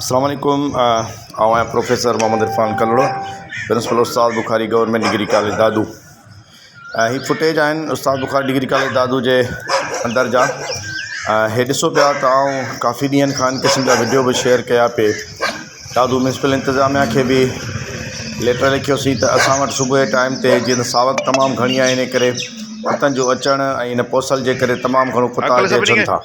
اسلام عليڪم آئون آهيان professor Muhammad Irfan Kalhoro principal Ustad Bukhari government degree college Dadu ۽ هي فوٽيج آهن استاد بخاري ڊگري ڪاليج دادو جي اندر جا ۽ هي ڏسو پيا ته آئون ڪافي ڏينهن کان ان قسم جا وڊيو به شيئر ڪيا پي دادو ميونسپل انتظاميا کي به ليٽر لکيوسين ته اسان وٽ صبح جي ٽائيم تي جيئن ته ساوڪ تمام گهڻي آهي ان ڪري ڪتن جو اچڻ ۽ ان پوسل جي ڪري تمام گهڻو ڪتا اچن ٿا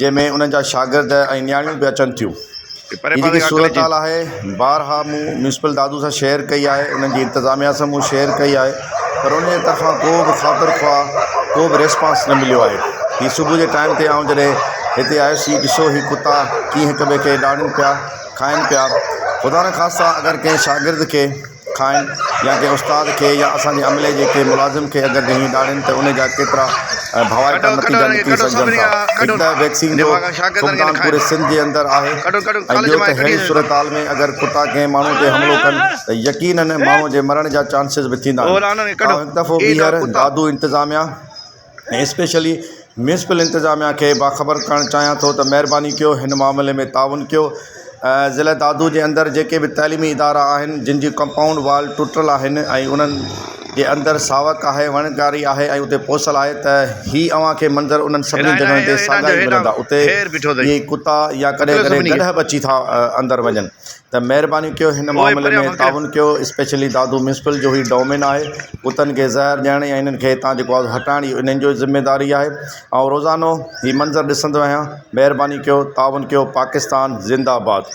جنهن ۾ انهن جا شاگرد ۽ نياڻيون به اچن ٿيون. هي جيڪي صورتحال آهي بارها مون ميونسپل دادو سان شيئر ڪئي آهي، انهن جي انتظاميا سان مون شيئر ڪئي آهي پر انهن جي طرفان ڪو به خاطر خواهه ڪو به ريسپانس نه مليو آهي. هي صبح جي ٽائيم تي آئون جڏهن هتي آيس هي ڏسو هي ڪتا ڪيئن هڪ ٻئي کي ڊاڙين پيا، کائن پيا. خدا نخواسته اگر ڪنهن شاگرد کي. کائن يا ڪنهن استاد کي يا اسان جي عملي جي ڪنهن ملازم کي اگر جهنگيون ڏاڙهين ته ان جا ڪيترا ڀوائتا نتيجا نڪري سگهجن ٿا. هڪ ته ويڪسين جو فقدان پوري سنڌ جي اندر آهي ۽ ٻيو ته ههڙي صورتحال ۾ اگر ڪتا ڪنهن ماڻهو تي حملو ڪن ته يقينن ماڻهو جي مرڻ جا چانسز به ٿيندا آهن. آئون هڪ دفعو ٻيهر دادو انتظاميا. ۽ اسپيشلي ميونسپل انتظاميا کي باخبر ڪرڻ چاهيان ٿو ته مهرباني ڪيو هن معاملي ۾ تعاون ڪيو ۽ ضلع دادو جي اندر جيڪي به تعليمي ادارا آهن جن جي ڪمپائونڊ وال ٽٽل آهن ۽ انهن جي اندر ساوڪ آهي وڻ ٽاري آهي ۽ اتي پوسل آهي ته هي اوهان کي منظر انهن سڀني جڳهن تي ساڳيا ئي ملندا اتي اهي ڪتا يا ڪڏهن ڪڏهن گڏهه به اچي ٿا اندر وڃن ته مهرباني ڪيو هن معاملي ۾ تعاون ڪيو اسپيشلي دادو ميونسپل جو هي ڊومين آهي ڪتن کي زهر ڏيڻ يا انهن کي هتان جيڪو آهي هٽائڻ اهو انهن جو ذميداري آهي آئون روزانو هي منظر ڏسندو آهيان مهرباني ڪيو تعاون ڪيو پاڪستان زنده آباد.